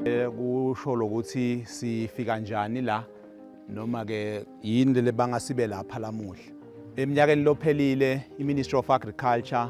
Eh, kusho lokuthi sifika njani la noma ke yini lebanga sibe lapha lamuhla eminyakeni lophelile iMinistry of Agriculture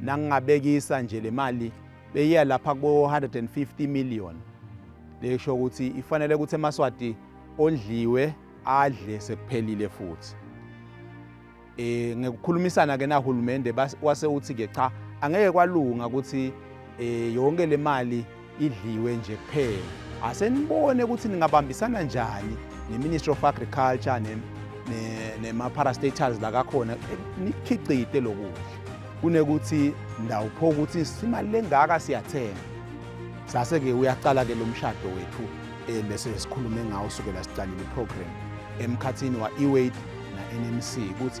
nangingabekisa nje le mali beyiya lapha kubo-150 million lesho ukuthi ifanele ukuthi emaswati ondliwe adle sekuphelile futhi eh ngekukhulumisana ke nahulumende wase uthi ke cha angeke kwalunga ukuthi eh yonke le mali idliwe nje kuphela asenibone ukuthi ningabambisana njani ne-ministry of agriculture nema-parastatals lakakhona eh, nikhiqide lokudla kunekuthi ndawupho ukuthi simali lengaka siyathenga sase-ke uyaqala-ke lo mshado wethu um bese sikhulume ngawo sukela siqalile iprogram emkhathini wa-eweight na-nmc ukuthi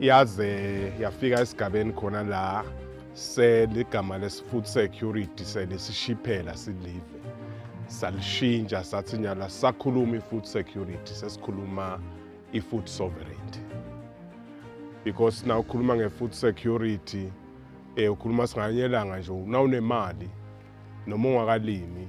yaze yafika esigabeni khona la seligama lesi-food security selisishiphela silive salishintsha sathi nyala sakhuluma i-food security sesikhuluma i-food sovereignty because na ukhuluma nge-food security um ukhuluma singanyelanga nje nawunemali noma ungakalimi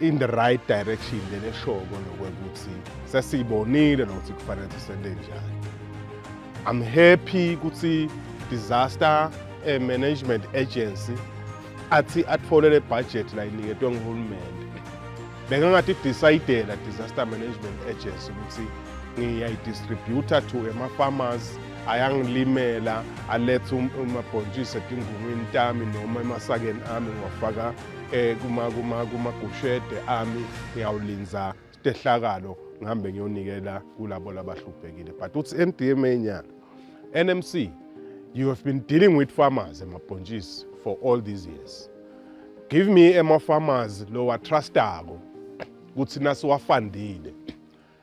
in the right direction lena eshoko nokwekuthi sesiyibonile nokuthi kufanele sisende njani i'm happy ukuthi disaster eh, management agency athi athole le budget la iniketwe nguhulumende bengangathi decidela disaster management agency ukuthi ngiyayidistributor to ema-farmers ayangilimela alethe um, umabhontshisi etingungwini tami noma emasakeni ami ngiwafaka eh kuma kuma kuma gushede ami ngiyawulinza stehlakalo ngihambe ngiyonikela kulabo labahluphekile but uthi eMDMA nyana NMC you have been dealing with farmers emabhontshisi for all these years give me ema farmers lowa trustako kuthi nasiwafandile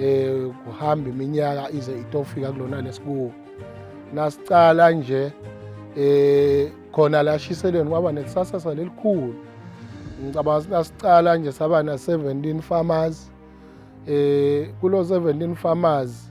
eh kuhamba iminyaka ize itofika kulona lesikuwo nasicala nje eh khona la shiselweni kwaba nekusasa salelikhulu ngicabanga ukuthi nasicala nje saba na 17 farmers eh kulo 17 farmers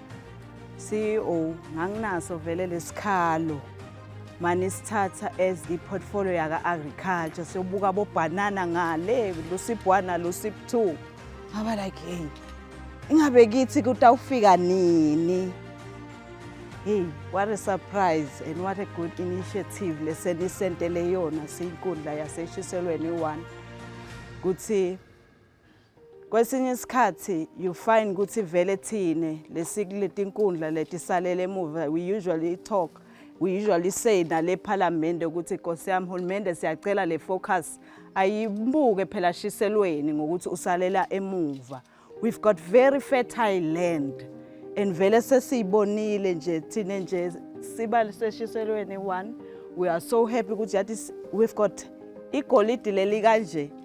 CEO nganginaso vele lesikhalo mani sithatha as i-portfolio yaka-agriculture siyobuka bobhanana ngale lusip one nalusip two ngaba like hey ingabe kithi kutawufika nini hey what a surprise and what a good initiative lesenisentele yona siyinkundla yaseshiselweni one kuthi Kwesinye isikhathi you find ukuthi vele thine lesikuletinkundla letisalele emuva we usually talk we usually say nale parliament ukuthi Nkosi yami hulumende siyacela le focus ayibuke phela shiselweni ngokuthi usalela emuva we've got very fertile land and vele sesiyibonile nje thine nje siba seshiselweni one we are so happy ukuthi yathi we've got igolidi leli kanje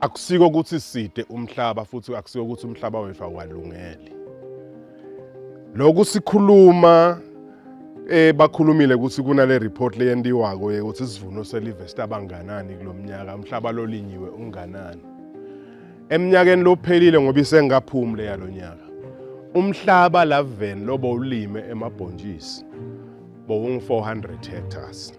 akusiko ukuthi side umhlaba futhi akusiko ukuthi umhlaba wethu awalungeli lokhu sikhuluma eh bakhulumile ukuthi kunale report leyentiwako ukuthi isivuno selive sitabanganani kulomnyaka umhlaba lolinyiwe unganani eminyakeni lophelile ngoba isengaphumi le yalonyaka umhlaba laven lobo ulime emabhontshisi bowungu 400 hectares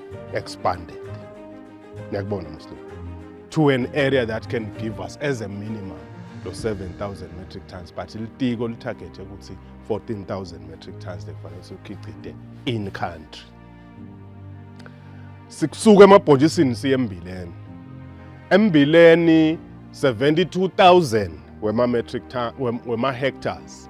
expanded niyakubona muslim to an area that can give us as a minimum lo 7000 metric tons but litiko litargethe ukuthi 14000 metric tons lekufanele sikhicite in country sikusuka emabhonjisini siye embileni embileni 72000 wema metric wema hectares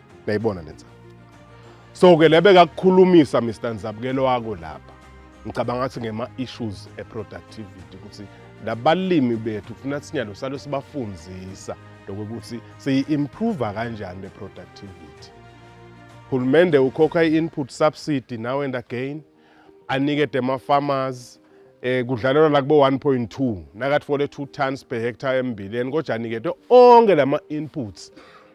Uyayibona lenza. So ke lebe kakukhulumisa Mr Nzabukelo wako lapha. Ngicabanga ukuthi ngema issues e productivity ukuthi labalimi bethu kufuna sinyalo salo sibafundisa lokuthi siyi improve kanjani le productivity. Hulumende ukhokha i input subsidy now and again anike dema farmers eh kudlalelwa la kubo 1.2 nakathi 42 tons per hectare embileni kodwa anikete onke lama inputs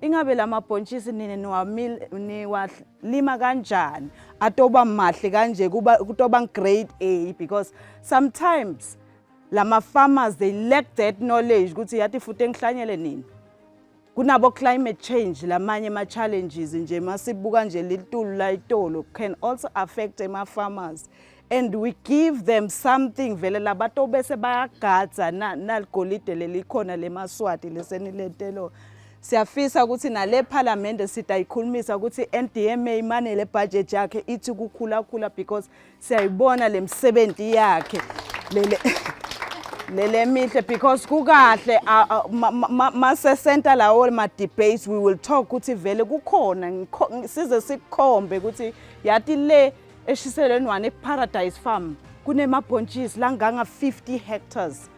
Ingabe la mabhontshisi nina niwalima kanjani atoba mahle kanje kuba kutoba grade A because sometimes lama farmers they lack that knowledge ukuthi yathi futhi engihlanyele nini kunabo climate change lamanye ama challenges nje masibuka nje litulu la itolo can also affect ema farmers and we give them something vele labantu bese bayagadza naligolide lelikhona lemaswati lesenilentelo siyafisa ukuthi nale phalamende sidayikhulumisa ukuthi NDMA imane le budget yakhe ithi kukhula khula because siyayibona lemsebenzi yakhe lele lele mihle because kukahle mase center lawo ma debates we will talk ukuthi vele kukhona size sikhombe ukuthi yati le Eshiselweni one eParadise Farm kunemabhontshisi langanga 50 hectares.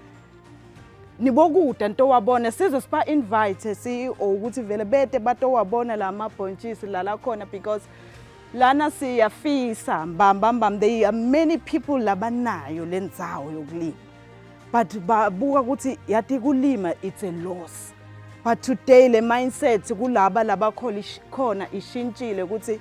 Nibokuda nto wabona size siba invite CEO ukuthi vele bete batowabona la mabhontshisi la la khona because lana siyafisa mbamba mbamba they are many people labanayo lendzawo yokulima but babuka ukuthi yathi kulima it's a loss but today le mindset kulaba labakhona ishintshile ukuthi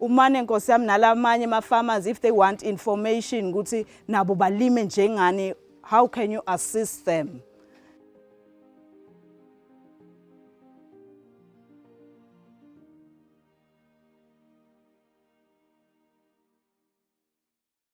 umane nkosi yami nalamanye ama-farmers if they want information ukuthi nabo balime njengani how can you assist them